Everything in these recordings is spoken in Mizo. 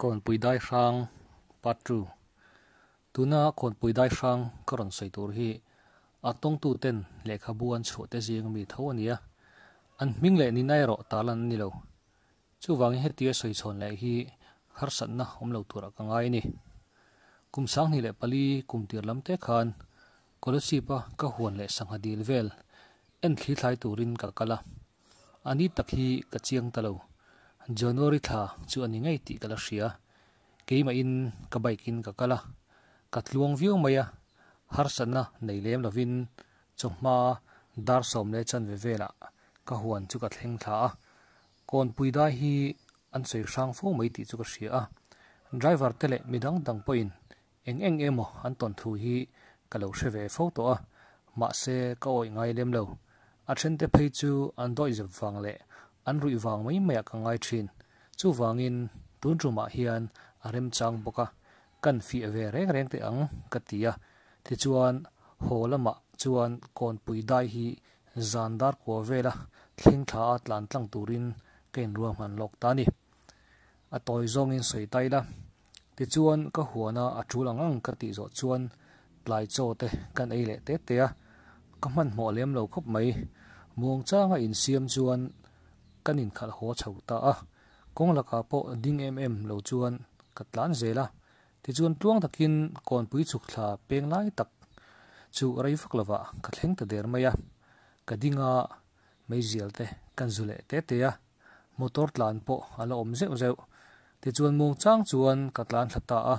Khawnpui Daihrang Part Two Tuna Khawnpui Daihrang ka rawn sawi tur hi a tawngtu ten lehkhabu an chhuah te zing mi tho a nia, an hming leh nina erawh ta lan a ni lo. Chuvangin hetia sawi chhawn leh hi harsatna awm lo turah ka ngai a ni. Kum sanghnih leh pali kum tir lam te khan College Jeep-a ka huan leh sangha dil vel en thli thlai turin ka kal a. A ni tak hi ka chiang ta lo. January thla chu a ni ngei tih ka la hria. Keimahin ka bike in ka kal a, ka tluang viau mai a, harsatna nei lem lovin chawhma dar sawm leh chanve velah ka huan chu ka thleng thla a. Kawnpui dai hi an sawi hrang fo mai tih chu ka hria a, driver te leh mi dang dang pawhin Eng eng emaw an tawn thu hi ka lo hre ve fo tawh a, mahse ka awih ngai lem lo. A thente phei chu an dawihzep vang leh an ruih vang mai mai ah ka ngai thin. Chuvangin tun tumah hian a remchang bawk a, kan fiah ve reng reng teh ang ka ti a. Tichuan haw lamah chuan Kawnpui dai hi zan dar kua vela thleng thlaah tlan tlang turin ka inruahman lawk ta a ni. A tawi zawngin sawi ta ila. Tichuan ka huana a tul ang ang ka tih zawh chuan tlai chaw te kan ei leh te te a, ka hmanhmawh lem lo khawp mai. Muang changa insiam chuan kan inkhalh haw chho ta a, kawng lakah pawh ding em em lo chuan ka tlan zel a. Tichuan tluang takin Kawnpui chukthla peng lai tak chu rei vak lovah ka thleng ta der mai a, ka dinga Meizial te kan zu leh te te a, motor tlan pawh a la awm zeuh zeuh. Tichuan mawng chang chuan ka tlan thla ta a.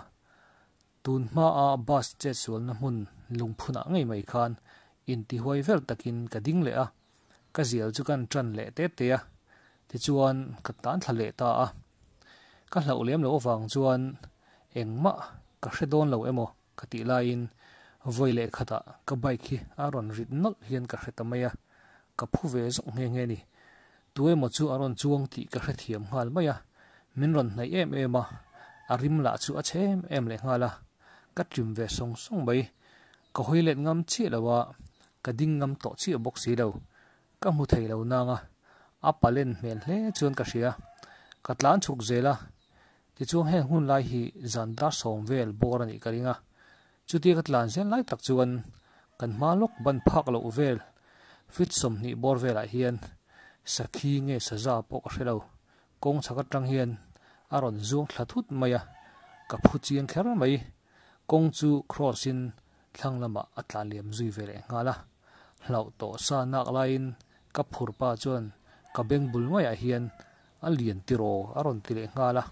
Tun hmaa bus chetsualna hmun lungphunah ngei mai khan intihuai vel takin ka ding leh a, ka zial chu kan tan leh te te a. Tichuan ka tlan thla leh ta a. Ka hlauh lem lo avang chuan engmah ka hre dawn lo emaw? Ka tih laiin vawi leh khatah ka bike hi a rawn rit nawlh hian ka hre ta mai a, ka phu ve zawk nghe nghe ni. Tu emaw chu a rawn chuang tih ka hrethiam nghal mai a, min rawn hnaih em em a, a rim lah chu a chhe em em leh nghal a, ka trim ve sawng sawng mai. Ka hawi let ngam chiah lo a, ka ding ngam tawh chiah bawk si lo. Ka hmu thei lo nanga a palen hmel hle chuan ka hria, ka tlan chhuk zel a, Tichuan heng hun lai hi zan dar sawm vel bawr a nih ka ring a, chutia ka tlan zel lai tak chuan kan hma lawk ban phak loh vel fit sawmhnih bawr velah hian sakhi nge saza pawh ka hre lo kawng chhak atang hian a rawn zuang thla thut mai a, ka phu chiang kher mai kawng chu cross in Thlang lamah a tla liam zui ve leh nghal a, hlauh tawh sa nak laiin ka phur pa chuan ka beng bul ngaiah hian a lian tiraw a rawn ti leh nghal a,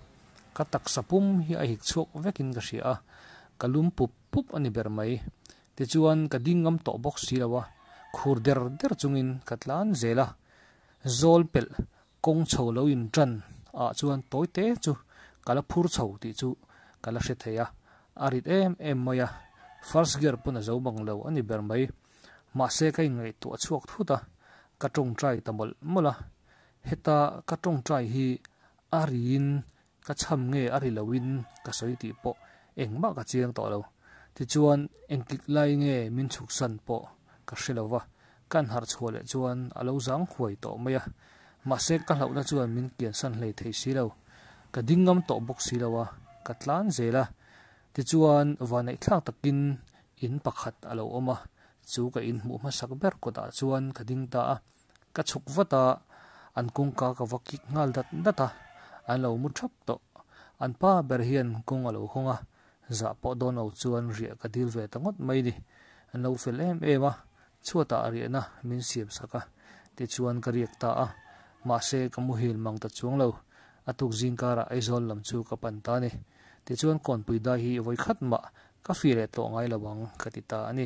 ka taksa pum hi a hik chhuak vekin ka hria a, ka lum pup pup a ni ber mai. Tichuan ka ding ngam tawh bawk si lo a, khur der der chungin ka tlan zel a, zawl pelh Kawng chho lo in tan ah chuan tawi te chu ka la phur chho tih chu ka la hre thei a, a rit em em mai a, first gear pawn a zo bang lo a ni ber mai. Mahse ka inngaihtuah chhuak thut a, ka tawngtai ta mawlh mawlh a, heta ka tawngtai hi a riin Ka chham nge a ri loin ka sawi tih pawh engmah ka chiang tawh lo. Tichuan engtik lai nge min chhuk san pawh ka hre lo va, ka an harh chhuah leh chuan a lo zang huai tawh mai a. Mahse ka hlauhna chuan min kian san hlei thei si lo, ka ding ngam tawh bawk si lo a, ka tlan zel a. Tichuan vaneihthlak takin in pakhat a lo awm a, chu ka inhmuh hmasak ber kawtah chuan ka ding ta a. ka chhuk vat a, an kawngka ka va kik nghal dat dat a, an lo mu thap tawh. An pa ber hian kawng a lo hawng a, zah pawh dawn lo chuan riah ka dil ve ta ngawt mai ni. An lo fel em em a, chhuatah a riahna min siam sak a, tichuan ka riak ta a, mahse ka muhil mang ta chuang lo, a tuk zing karah Aizawl lam chu ka pan ta ni, tichuan Kawnpui dai hi vawi khat mah ka fih leh tlawh ngai lo ang ka ti ta a ni.